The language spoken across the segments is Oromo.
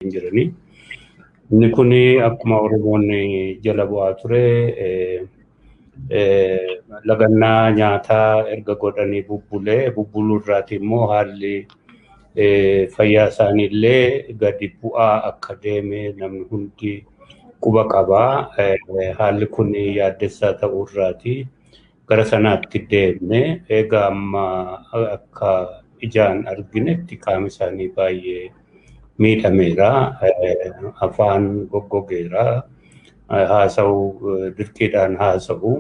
hin jirani. Inni kun akkuma Oromoon jala bu'aa ture lagannaa nyaataa erga godhanii bubbulee bubbuluu irraati immoo haalli fayyaa isaanii illee gadi bu'aa akka deeme namni hundi quba qaba. Haalli kun yaaddessaa ta'uu irraati. gara sanaatti deemne egaa amma akka ijaan arginetti qaama isaanii baay'ee miidhameera afaan goggogeera haasa'u dirqiidhaan haasa'u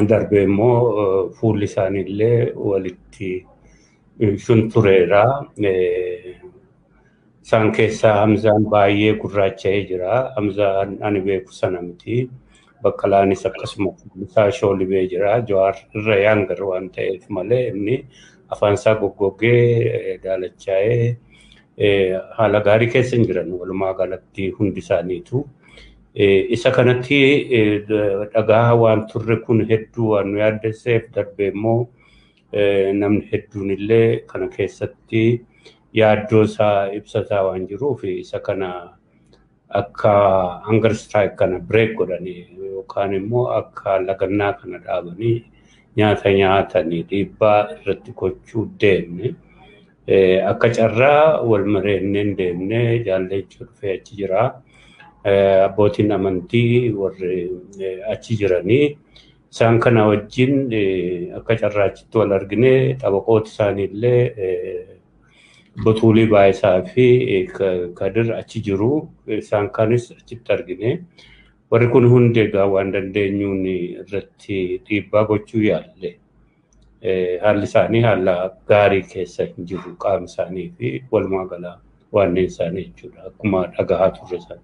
darbee immoo fuulli isaaniillee walitti shuntureera Isaan keessaa Hamzaan baay'ee gurraacha'ee jira. Hamzaan ani beeku sana miti. Baqqalaanis akkasuma isaa shoolibee jira. Jawaar irra yaangar waan ta'eef malee inni afaan isaa goggoggee daalachaa'ee haala gaarii keessa hin jiran walumaa galatti hundi isaaniitu. Isa kanatti dhagaa waan turre kun hedduu waan nu yaaddesseef darbee immoo namni hedduun illee kana keessatti yaaddoo isaa ibsataa waan jiruuf isa kana akka hunger strike kana break godhanii yookaan immoo akka lagannaa kana dhaabanii nyaata nyaatanii dhiibbaa irratti gochuu deemne. Akka carraa wal mareenneen deemne jaalleechuu dhufee achi jira. Abbootiin amantii warri achi jiranii Isaan kana wajjin akka carraachitti wal arginee xabaqooti isaanii illee Botuulii Baayisaa fi Kadir achi jiru. Isaan kanis achitti argine. Warri kun hundi egaa waan dandeenyuun irratti dhiibbaa gochuu yaalle. Haalli isaanii haala gaarii keessa hin jiru qaama isaanii fi walumaa gala waanneen isaanii jechuudha. Akkuma dhagahaa turre sana.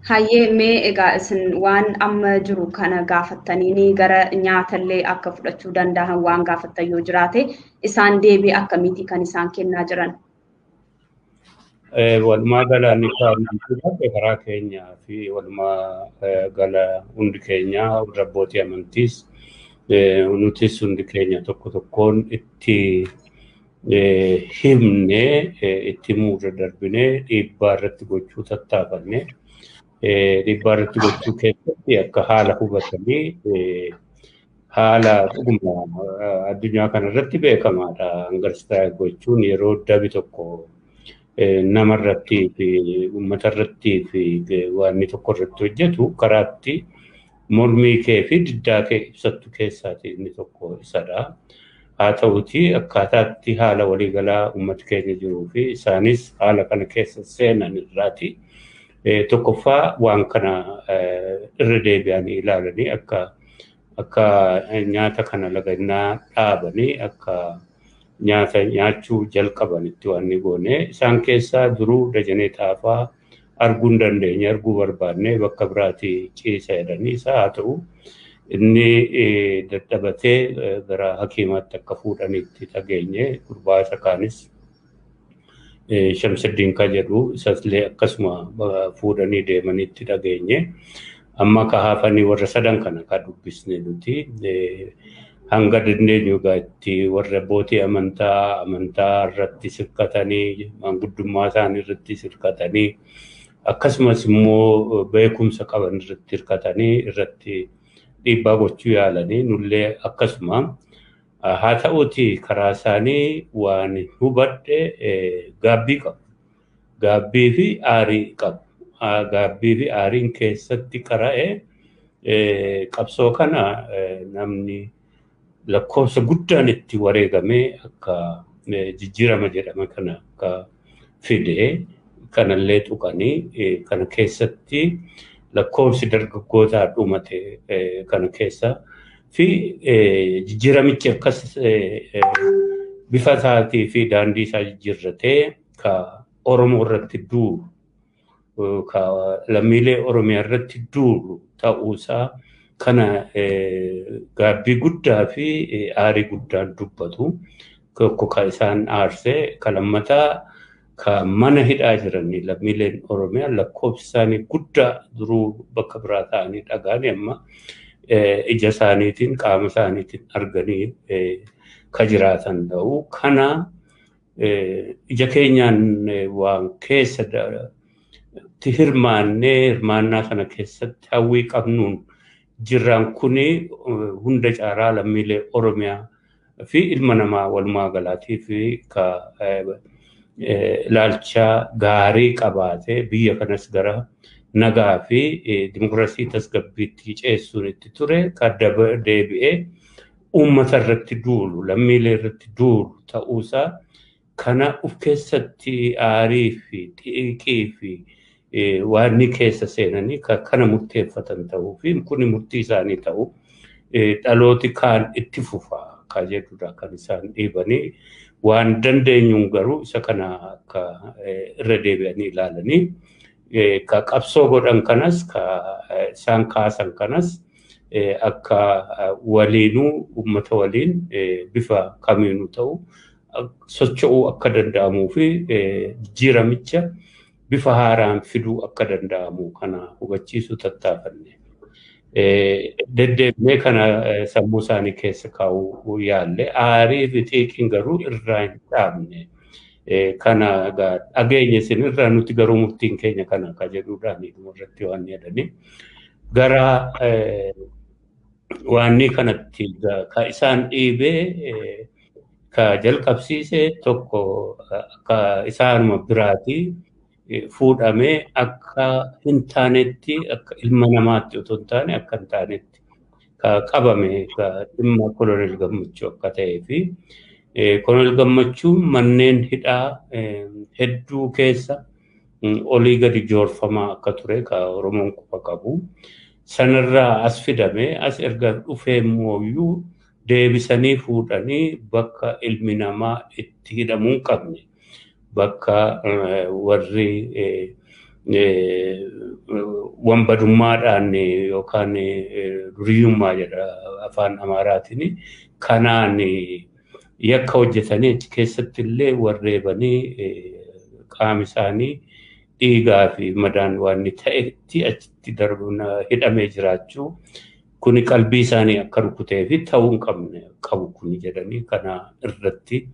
Hayyee mee egaa isin waan amma jiru kana gaafattaniini gara nyaatallee akka fudhachuu danda'an waan gaafattan yoo jiraate isaan deebii akkamiiti kan isaan kennaa jiran? Walumaa gala ni kaa'amte karaa keenyaa fi walumaa gala hundi keenyaa warra abbootii amantiis nutis hundi keenya tokko tokkoon itti himnee itti himuu irra darbinee dhiibbaa irratti gochuu tattaafanne. Dhiibbaa irratti gochuu keessatti akka haala hubatanii haala dhuguma addunyaa kana irratti beekamaadha. Angarsitaa gochuun yeroo dabi tokko nama irratti fi uummata irratti fi waan tokko irratti hojjetu karaatti mormii kee fi diddaa kee ibsattu keessaati inni tokko isadha. Haa ta'uti akkaataatti haala waliigalaa uummati keenya jiruu fi isaanis haala kana keessa seenan irraati. Tokkoffaa waan kana irra deebi'anii ilaalanii akka akka nyaata kana lagannaa dhaabanii akka nyaata nyaachuu jalqabanitti waan ni goone. Isaan keessaa duruu Dajanee Xaafaa arguu hin dandeenye arguu barbaannee bakka biraati ciisa jedhanii isaa haa ta'u inni dadhabatee gara hakiimaatti akka fuudhanitti dhageenye gurbaa isa kaanis Shamsiddiin ka jedhu isasillee akkasuma fuudhanii deemanitti dhageenye. Amma ka hafanii warra sadan kana ka dubbisne nuti hanga dandeenyu egaa itti warra abbootii amantaa amantaa irratti sirkatanii manguddummaa isaanii irratti sirkatanii akkasumas immoo beekumsa qaban irratti hirkatanii irratti dhiibbaa gochuu yaalanii nullee akkasuma haa ta'uuti karaa isaanii waan hubadhe gaabbii qabu. gaabbii fi aarii qabu. Gaabbii fi aariin keessatti qara'ee qabsoo kana namni lakkoofsa guddaan itti wareegamee akka jijjiirama jedhama kana akka fide kanallee tuqanii kana keessatti lakkoofsi dargaggootaa dhumate kana keessa fi jijjiiramichi akkas bifa isaatii fi daandii isaa jijjiirratee ka Oromoo irratti duulu ka lammiilee Oromiyaa irratti duulu ta'uusaa kana gaabbii guddaa fi aarii guddaan dubbatu. Tokko ka isaan aarsee ka lammataa ka mana hidhaa jiran lammiileen Oromiyaa lakkoofsi isaanii guddaa duruu bakka biraa ta'anii dhagaanii amma ija isaaniitiin qaama isaaniitiin arganii ka jiraatan ta'u. Kana ija keenyaan waan keessa itti hirmaannee hirmaannaa kana keessatti hawwii qabnuun jirraan kuni hunda caalaa lammiilee Oromiyaa fi ilma namaa walumaa galaatii fi ka ilaalcha gaarii qabaatee biyya kanas gara nagaa fi dimokiraasii tasgabbiitti ceessuun itti ture ka deebi'ee uummata irratti duulu, lammiilee irratti duulu ta'uusaa kana of keessatti aarii fi xiiqii fi waan ni keessa seenanii kana murteeffatan ta'uu fi kuni murtii isaanii ta'u dhalooti kaan itti fufa kan jedhudha kan isaan dhiibanii waan dandeenyuun garuu isa kana akka irra deebi'anii ilaalanii ka qabsoo godhan kanas ka isaan kaasan kanas akka waliinuu uummata waliin bifa kamiinuu ta'u socho'uu akka danda'amuu fi jijjiiramicha bifa haaraan fiduu akka danda'amu kana hubachiisuu tattaafanne. Deddeebinee kana sammuu isaanii keessa kaa'uu yaalle aarii fi xiiqiin garuu irraa hin dhaabne. kana dhageenye isin irraa nuti garuu murtiin keenya kana akka jedhuudhaan irratti waan yaadame gara waanni kanatti ka isaan dhiibee ka jalqabsiise tokko akka isaanuma biraati fuudhamee akka hin taanetti akka ilma namaatti otoo hin taane akka hin taanetti qabame dhimma kolonel gammachuu akka ta'ee fi kolonel gammachuu manneen hidhaa hedduu keessa olii gadi joorfamaa akka ture ka Oromoon quba qabu. Sanarraa as fidamee as erga dhufee mooyyuu deebisanii fuudhanii bakka ilmi namaa itti hidhamuu hin qabne. bakka warri wanbadummaadhaan yookaan duriyyummaa jedha afaan amaaraatiin kanaan yakka hojjetanii achi keessatti illee warreebanii qaami isaanii dhiigaa fi madaan waan inni ta'etti achitti darbuun hidhamee jiraachuu kuni qalbii isaanii akka rukutee fi ta'uu hin qabne qabu kuni jedhanii kana irratti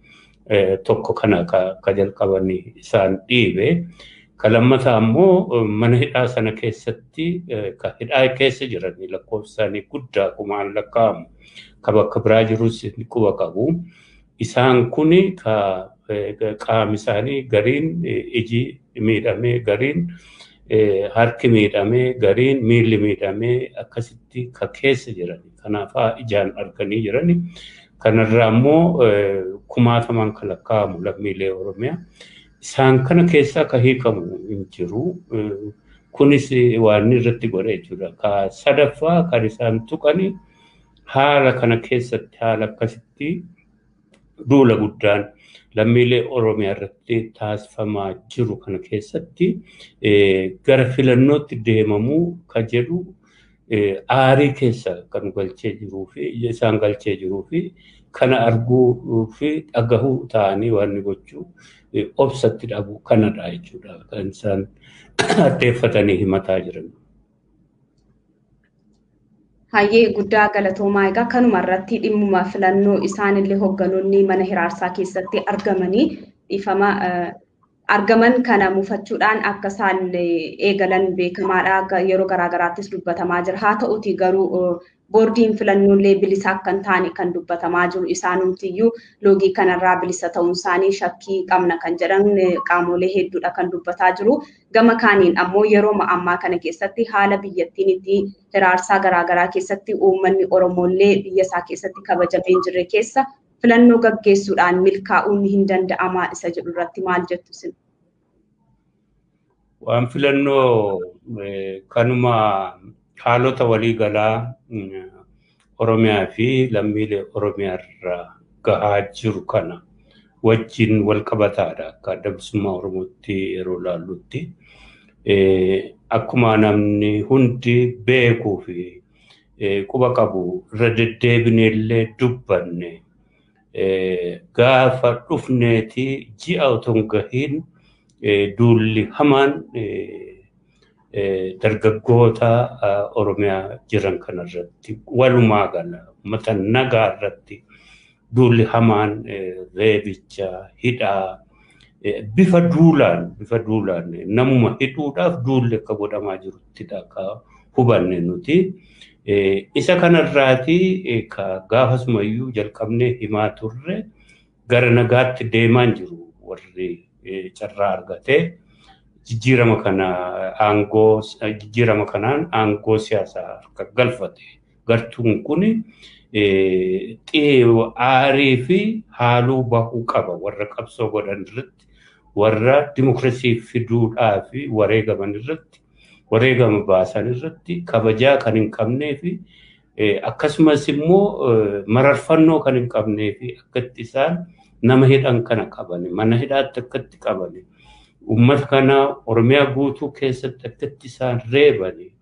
tokko kana ka jalqaban isaan dhiibe. Ka lammataa immoo mana hidhaa sana keessatti ka hidhaa keessa jiran lakkoofsaanii guddaa kumaan lakkaa'amu ka bakka biraa jirus quba qabu. Isaan kun ka qaami isaanii gariin iji miidhamee gariin harki miidhamee gariin miilli miidhamee akkasitti ka keessa jiran kanaafaa ijaan arganii jiran Kanarraa immoo kumaatamaan kan lakkaa'amu lammiilee Oromiyaa. Isaan kana keessaa kan hiikamu hin jiru. Kunis waan irratti godhe jechuudha. Ka sadaffaa kan isaan tuqani haala kana keessatti haala akkasitti duula guddaan lammiilee Oromiyaa irratti taasifamaa jiru kana keessatti gara filannootti deemamuu ka jedhu aarii keessa kan galchee jiruu fi ija isaan galchee jiruu fi kana arguu fi dhagahuu ta'anii waan inni gochuu obsatti dhabu kanadha jechuudha kan isaan addeeffatanii himataa jiran. Hayyee guddaa galatoomaa egaa kanuma irratti dhimmuma filannoo isaanillee hogganoonni mana hiraarsaa keessatti argamanii dhiifama argaman kana mufachuudhaan akka isaan eegalan beekamaadha. Yeroo garaagaraattis dubbatamaa jira. Haa ta'uti garuu boordiin filannoollee bilisa akka hin taane kan dubbatamaa jiru isaanumtiyyuu loogii kanarraa bilisa ta'uun isaanii shakkii qabna kan jedhan qaamolee hedduudha kan dubbataa jiru. Gama kaaniin ammoo yeroo ammaa kana keessatti haala biyyattiin itti hiraarsaa garaagaraa keessatti uummanni Oromoollee biyya isaa keessatti kabajamee hin jirre keessa filannoo gaggeessuudhaan milkaa'uun hin danda'amaa isa jedhu irratti maal jettu isin? Waan filannoo kanuma haalota waliigalaa Oromiyaa fi lammiilee Oromiyaa irraa gahaa jiru kana wajjin wal qabataadha akka adda bilisummaa Oromootti yeroo ilaallutti. Akkuma namni hundi beekuu fi quba qabu irra deddeebine illee dubbanne gaafa dhufneeti ji'a otoo hin gahiin duulli hamaan dargaggoota Oromiyaa jiran kanarratti walumaa gala uummata nagaa irratti Duulli hamaan reebicha, hidhaa, bifa duulaan, bifa duulaan namuma hidhuudhaaf duulli akka godhamaa jiruttidha akka hubanne nuti. Isa kanarraati gaafasumayyuu jalqabnee himaa turre gara nagaatti deemaan jiru warri carraa argatee jijjiirama kana aangoo jijjiirama kanaan aangoo siyaasaa harka galfate Gartuun kun aarii fi haaluu bahuu qaba warra qabsoo godhan irratti warra dimokirasii fiduudhaa fi wareegaman irratti wareegama baasan irratti kabajaa kan hin qabnee fi akkasumas immoo mararfannoo kan hin qabnee fi akkatti isaan nama hidhan kana qabani mana hidhaatti akkatti qabani uummata kana oromiyaa guutuu keessatti akkatti isaan reebani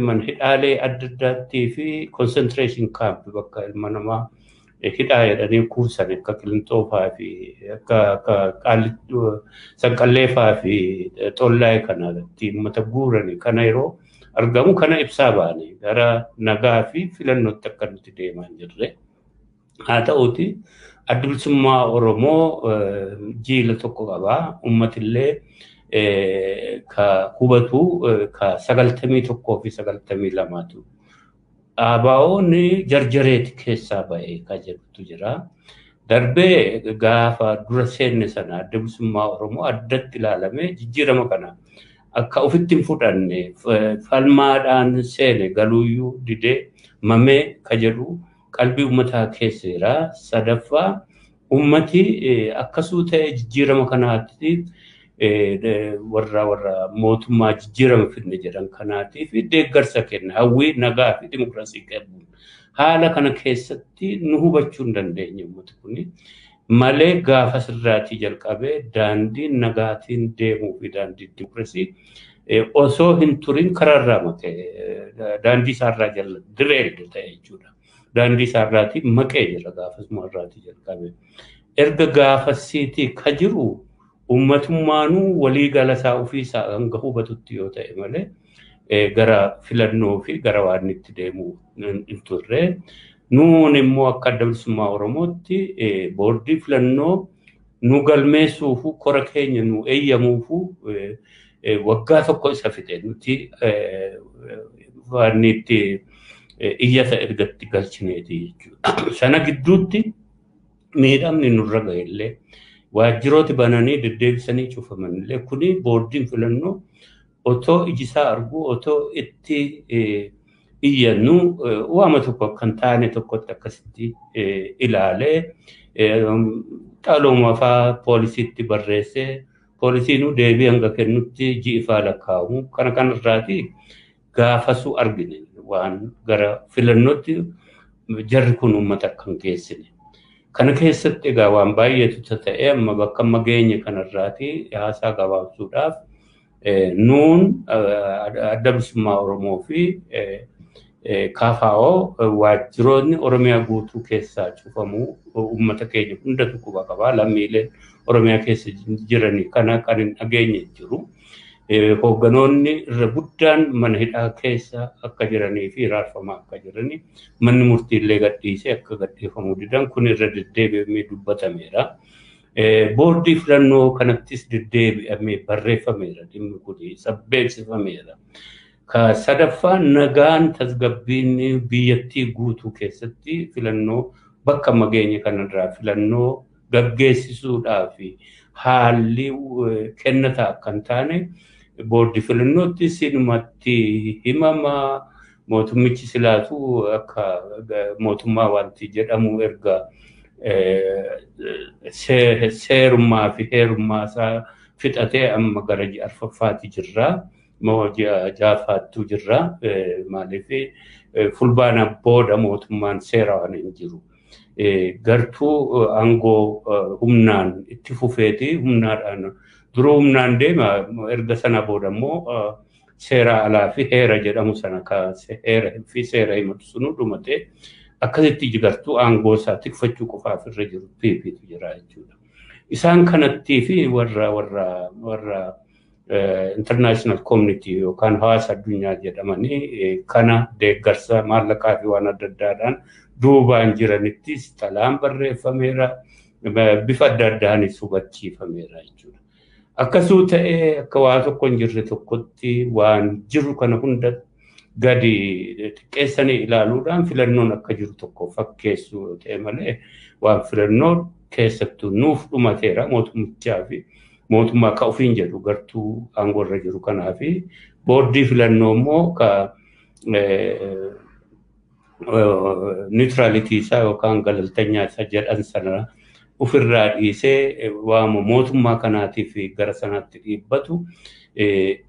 man hidhaalee adda addaattii fi concentration camp bakka ilma namaa hidhaa jedhanii kuusan akka qilintoo faa fi akka akka qaallittuu sanqallee faa fi xollaa'ee kana irratti uummata guurani kana yeroo argamu kana ibsaa baane gara nagaa fi filannootti akka nuti deemaa hin jirre. Haa ta'uuti addi bilisummaa Oromoo jiila tokko qaba. Uummatillee ka hubatu ka sagaltamii tokkoo fi sagaltamii lamaatu. Dhaabaa'oon jarjareeti keessaa ba'e ka jedhutu jira. Darbee gaafa dura seenne sana adda bilisummaa Oromoo addatti ilaalamee jijjiirama kana akka ofitti hin fudhanne falmaadhaan seene galuuyyuu didee mamee ka jedhu qalbii ummataa keesseera. Sadaffaa ummati akka suuta'ee jijjiirama kanaatti warra warra mootummaa jijjiirama fidne jedhan kanaatiif deeggarsa kenna. Hawwii nagaa fi dimokiraasii qabuun. Haala kana keessatti nu hubachuu hin dandeenye ummati kun. malee gaafas irraatii jalqabee daandiin nagaatiin deemuu fi daandii dimokirasii osoo hin turin karaa irraa maqe daandii isaa irraa jala direed ta'e jechuudha. Daandii isaa irraatii maqee jira gaafasuma irraatii jalqabee. Erga gaafasiitii ka jiru uummatummaanuu walii gala isaa ofii isaa hanga hubatutti yoo ta'e malee gara filannoo fi gara waan itti deemu hin turre. Nuun immoo akka adda bilisummaa Oromootti boordii filannoo nu galmeessuufu kora keenya nu eeyyamuufu waggaa tokko isa fixe nuti waan itti iyyata ergatti galchineeti jechuudha. Sana gidduutti miidhamni nurra gahe illee waajjirooti bananii deddeebisanii cufaman illee kuni boordiin filannoo Otoo ijisaa arguu otoo itti iyyannu waama tokko akka hin taane tokkotti akkasitti ilaalee dhalooma faa poolisiitti barreessee poolisiinuu deebii hanga kennutti ji'i faa lakkaa'amu kana kan irraati gaafasuu argine waan gara filannootti jarri kun uummata akka hin geessine. Kana keessatti egaa waan baay'eetu ta'e amma bakka amma geenye kanarraati haasaa gabaabsuudhaaf Nuun adda bilisummaa Oromoo fi KFO waajjiroonni Oromiyaa guutuu keessaa cufamuu uummata keenya hundatu quba qaba. Lammiileen Oromiyaa keessa jiranii kana kan hin dhageenye hin jiru. Hoogganoonni irra guddaan mana hidhaa keessa akka jiranii fi hiraarfamaa akka jiranii manni murtii illee gadhiisee akka gadhiifamuu didan kun irra deddeebi'amee dubbatameera. Boordii filannoo kanattis deddeebi'amee barreeffameera dhimmi kun sabbeeksifameera. Ka sadaffaa nagaan tasgabbiin biyyattii guutuu keessatti filannoo bakka amma geenye kanarraa filannoo gaggeessisuudhaaf haalli kennataa akka hin taane boordii filannoottis inumatti himama. Mootummichi silaatu akka mootummaa wanti jedhamu erga seerummaa fi heerummaa isaa fixatee amma gara ji'a arfaffaati jirra. Moo ji'a jaafaattuu jirra. Maaliif fulbaana booda mootummaan seera waan hin jiru. Gartuu aangoo humnaan itti fufeeti humnaadhaan duruu humnaan deema erga sana booda immoo seeraa alaa fi heera jedhamu sana ka heera fi seera himatu sunu dhumatee akkasitti jigartuu aangoo isaa tikfachuu qofaaf irra jiru piipiitu jira jechuudha. Isaan kanattii fi warra warra warra international community yookaan hawaasa addunyaa jedhamanii kana deeggarsa maallaqaa fi waan adda addaadhaan duubaan jiranittis xalaan barreeffameera bifa adda addaanis hubachiifameera jechuudha. Akkasuu ta'ee akka waa tokko hin jirre tokkotti waan jiru kana hunda gadi xiqqeessanii ilaaluudhaan filannoon akka jiru tokko fakkeessuu yoo ta'e malee waan filannoo keessattuu nuuf dhumateera mootummichaa fi mootummaa akka ofiin jedhu gartuu aangoo irra jiru kanaa fi boordii filannoo immoo ka niwutiralitii isaa yookaan galaltanyaa isa jedhan sana ofirraa dhiisee waama mootummaa kanaatiif gara sanaatti dhiibbatu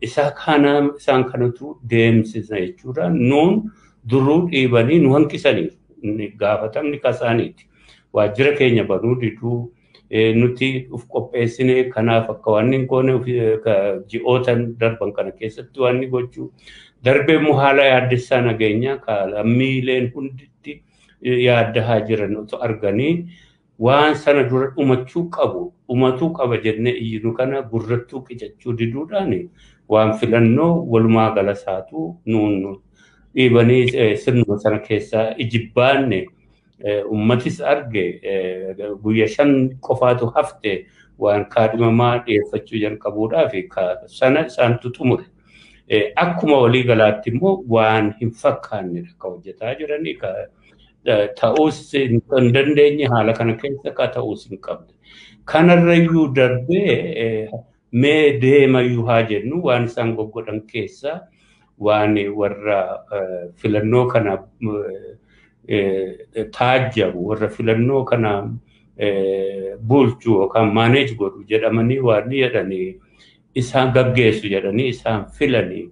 isaa kana isaan kanatu deemsisa jechuudha. Nuun duruu dhiibanii nu hanqisaniiru. Gaafatamni kasaaniiti. Waajjira keenya banuu diduu nuti of qopheessine kanaaf akka waan hin goone ji'ootan darban kana keessatti waan ni gochuu darbee immoo haala yaaddessaa nageenyaa ka lammiileen hunditti yaaddahaa jiran otoo arganii waan sana dura dhumachuu qabu dhumatuu qaba jennee iyyinu kana gurrattuu qicachuu diduudhaan waan filannoo walumaa gala isaatu nuun dhiibanii sirnuma sana keessaa ijibbaanne Uummatis arge guyya shan qofaatu hafte waan kaadhimamaa dhiyeeffachuu jalqabuudhaaf sana isaantu xumure. Akkuma walii galaatti immoo waan hin fakkaannedha kan hojjetaa jiranii ta'uus hin dandeenye haala kana keessa ka ta'uus hin qabne. Kanarrayyuu darbee Mee deema iyyuu haa jennu waan isaan goggodhan keessa waan warra filannoo kana taajjabu warra filannoo kana bulchu yookaan maaneej godhu jedhamanii waan jedhanii isaan gaggeessu jedhanii isaan filanii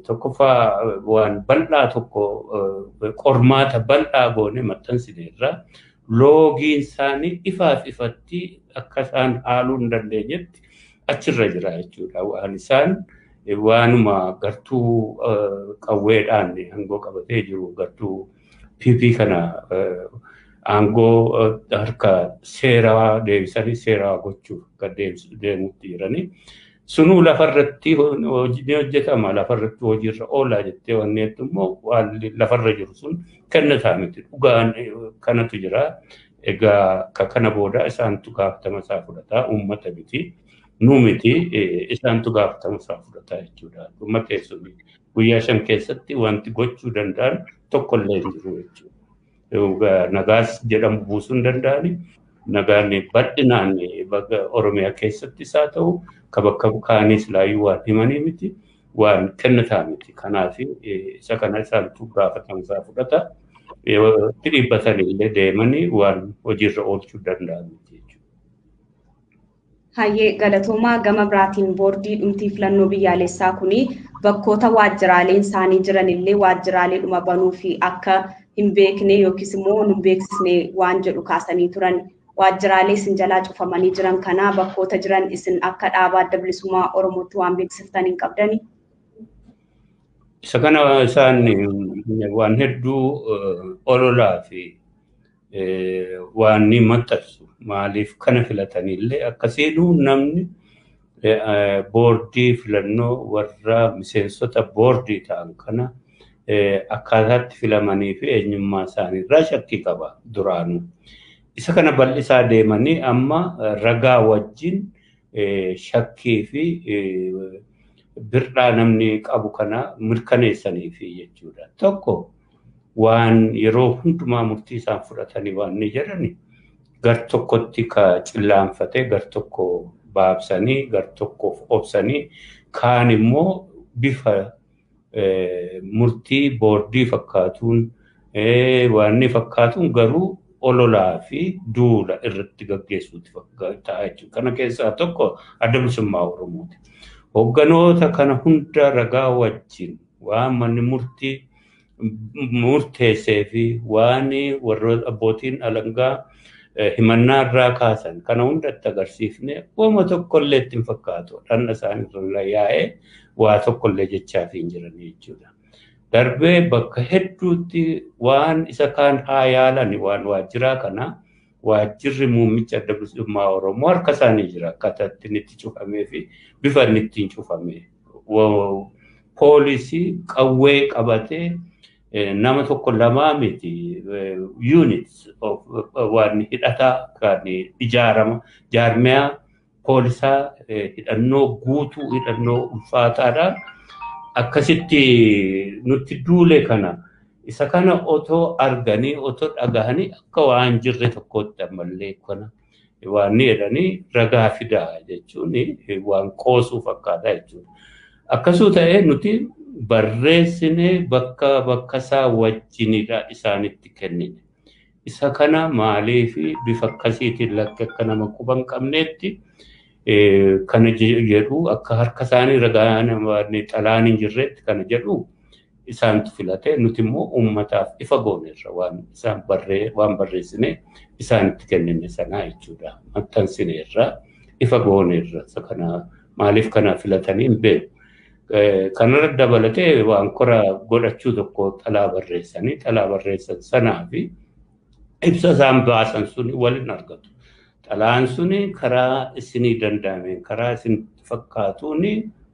tokkoffaa waan bal'aa tokko qormaata bal'aa goone maxxansineerra loogiin isaanii ifaaf ifatti akka isaan haaluu hin dandeenyetti achirra jira jechuudha. Waan isaan waanuma gartuu qawweedhaan aangoo qabatee jiru gartuu PP kana aangoo harka seeraa deebisanii seeraa gochuuf akka deemutti jiranii. Sunuu lafarratti ni hojjetama lafarratti hojiirra oolaa jettee wanni jettu immoo waan lafarra jiru sun kenna isaa miti dhugaan kanatu jira. Egaa ka kana booda isaantu gaafatama isaa fudhata uummata miti nu miti isaantu gaafatama isaa fudhata jechuudha. Dhuma keessumaa guyyaa shan keessatti wanti gochuu danda'an tokkollee hin jiru jechuudha. nagaas jedhamu buusuu hin danda'ani. Nagaan bal'inaan bakka Oromiyaa keessattis haa ta'u ka bakka kaaniis laayyuu waan himanii miti waan kennataa miti. Kanaaf isa kana isaantu gaafatama isaa fudhata. Itti dhiibbatanii illee deemanii waan hojiirra oolchuu danda'an miti jechuudha. Hayyee galatoomaa gama biraatiin boordii dhumtii filannoo biyyaalessaa kuni bakkoota waajjiraaleen isaanii jiranillee waajjiraalee dhuma banuu fi akka hin beekne yookiis immoo nu beeksisne waan jedhu kaasanii turan. Waajjiraalee isin jalaa cufamanii jiran kanaa bakkoota jiran isin akka dhaabaa adda bilisummaa Oromootti waan beeksiftan hin qabdani? Isa kana isaan waan hedduu ololaa fi waan ni maxxansu maaliif kana filatanillee akka seenu namni boordii filannoo warra miseensota boordii ta'an kana akkaataatti filamanii fi eenyummaa isaanii irraa shakkii qaba duraanuu. Isa kana bal'isaa deemanii amma ragaa wajjin shakkii fi bir'aa namni qabu kana mirkaneessaniif jechuudha. Tokko waan yeroo hundumaa murtii isaan fudhatanii waan ni jedhani gar tokkotti ka cillaanfatee gar tokko baabsanii gar tokkoof obsanii kaan immoo bifa murtii boordii fakkaatuun waan ni fakkaatuun garuu ololaa fi duula irratti gaggeessuutti ta'a jechuudha. Kana keessaa tokko adda bilisummaa Oromooti. Hogganoota kana hunda ragaa wajjin waan manni murtii murteessee fi waan warra abbootiin alangaa himannaa irraa kaasan kana hundatti agarsiifne uuma tokkollee itti hin fakkaatu dhanna isaanii irra yaa'ee waa tokkollee jechaa fi hin jiran jechuudha. Darbee bakka hedduutti waan isa kaan haa yaalan waan waajjiraa kana Waajjirri muummicha adda bilisummaa Oromoo harka isaanii jira akkaataa ittiin itti cufamee fi bifa inni ittiin cufame. Poolisii qawwee qabatee nama tokko lamaa miti units waan hidhataa kan ijaarama jaarmiyaa poolisaa hidhannoo guutuu hidhannoo ulfaataadhaan akkasitti nutti duule kana isa kana otoo arganii otoo dhagahanii akka waan jirre tokkootti ammallee kana waan ni jedhanii ragaa fidaa jechuun waan qoosuu fakkaata jechuudha. Akkasuu ta'ee nuti barreessinee bakka bakka isaa wajjinidha isaanitti kennine. Isa kana maaliif bifa akkasiitiin lakki akka nama quba hin qabneetti kana jedhu akka harka isaanii ragaan xalaan hin jirreetti kana jedhu isaantu filate nuti immoo uummataaf ifa gooneerra waan isaan barree waan barreessine isaanitti kennine sanaa jechuudha maxxansineerra ifa gooneerra isa kana maaliif kana filatanii hin beeku. Kanarra dabalatee waan kora godhachuu tokko xalaa barreessanii xalaa barreessan sanaa fi ibsa isaan baasan suni waliin argatu. Xalaan suni karaa isinii danda'ameen karaa isin fakkaatuun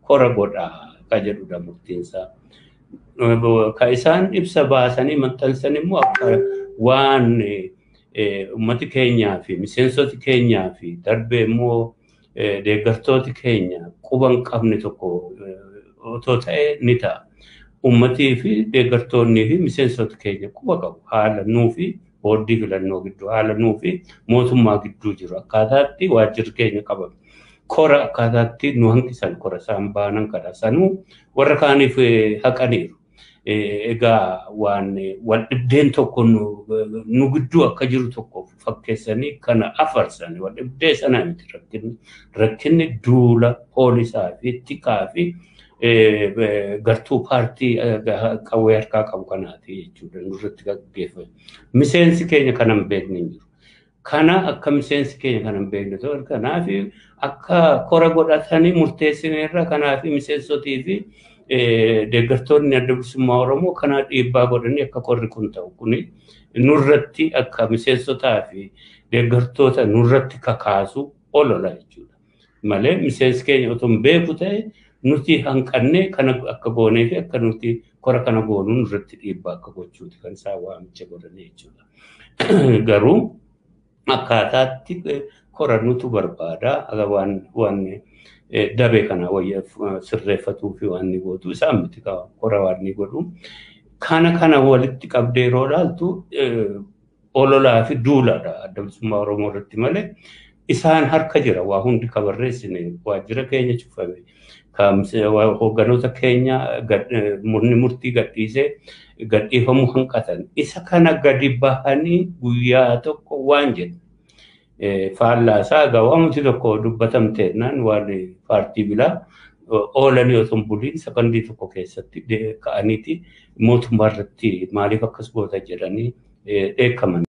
kora godhaa ka jedhudha murtiinsaa. Ka isaan ibsa baasanii maxxansan immoo akka waan uummati keenyaa fi miseensoti keenyaa fi darbee immoo deeggartooti keenya quba hin qabne tokko otoo ta'e ni ta'a. Uummatii fi deeggartoonnii fi miseensota keenya quba qabu haala nuu fi boordii filannoo gidduu haala nuu fi mootummaa gidduu jiru akkaataatti waajjirri keenya qabame. Kora akkaataatti nu hanqisan kora isaan baanan kana sanuu warra kaaniif haqaniiru. Egaa waan wal dhibdeen tokko nu gidduu akka jiru tokko fakkeessanii kana afarsan wal dhibdee sana miti rakkinni. Rakkinni duula poolisaa fi tikaa fi gartuu paartii qawwee harkaa qabu kanaati jechuudha nurratti gaggeeffame. Miseensi keenya kana hin beekne hin jiru. Kana akka miseensi keenya kana hin beekne ta'u kanaaf akka kora godhatanii murteessineerra kanaaf miseensotii fi deeggartoonni adda bilisummaa Oromoo kana dhiibbaa godhanii akka korri kun ta'u kuni nurratti akka miseensotaa fi deeggartoota nurratti kakaasu olola jechuudha. malee miseensi keenya otoo hin beeku ta'e nuti hanqannee kana akka goonee fi akka nuti kora kana goonuu nurratti dhiibbaa akka gochuuti kan isaa waamicha godhanii jechuudha. Garuu akkaataatti kora nutu barbaada waan waan dabee kana wayya sirreeffatuu fi waan ni gootu isaan miti kora waan ni godhu. Kana kana walitti qabdee yeroo ilaaltu ololaa fi duulaadha adda bilisummaa Oromoo irratti malee isaan harka jira waa hundi ka barreessine waajjira keenya cufame hoogganoota keenya murni murtii gadhiisee gadhiifamuu hanqatan isa kana gadi bahanii guyyaa tokko waan jedhu Faallaa isaa egaa waamamti tokko dubbatamteennaan waan paartii bilaa oolanii osoo hin buliin sakandii tokko keessatti ka'aniiti mootummaa irratti maaliif akkas goota jedhanii dheekkaman.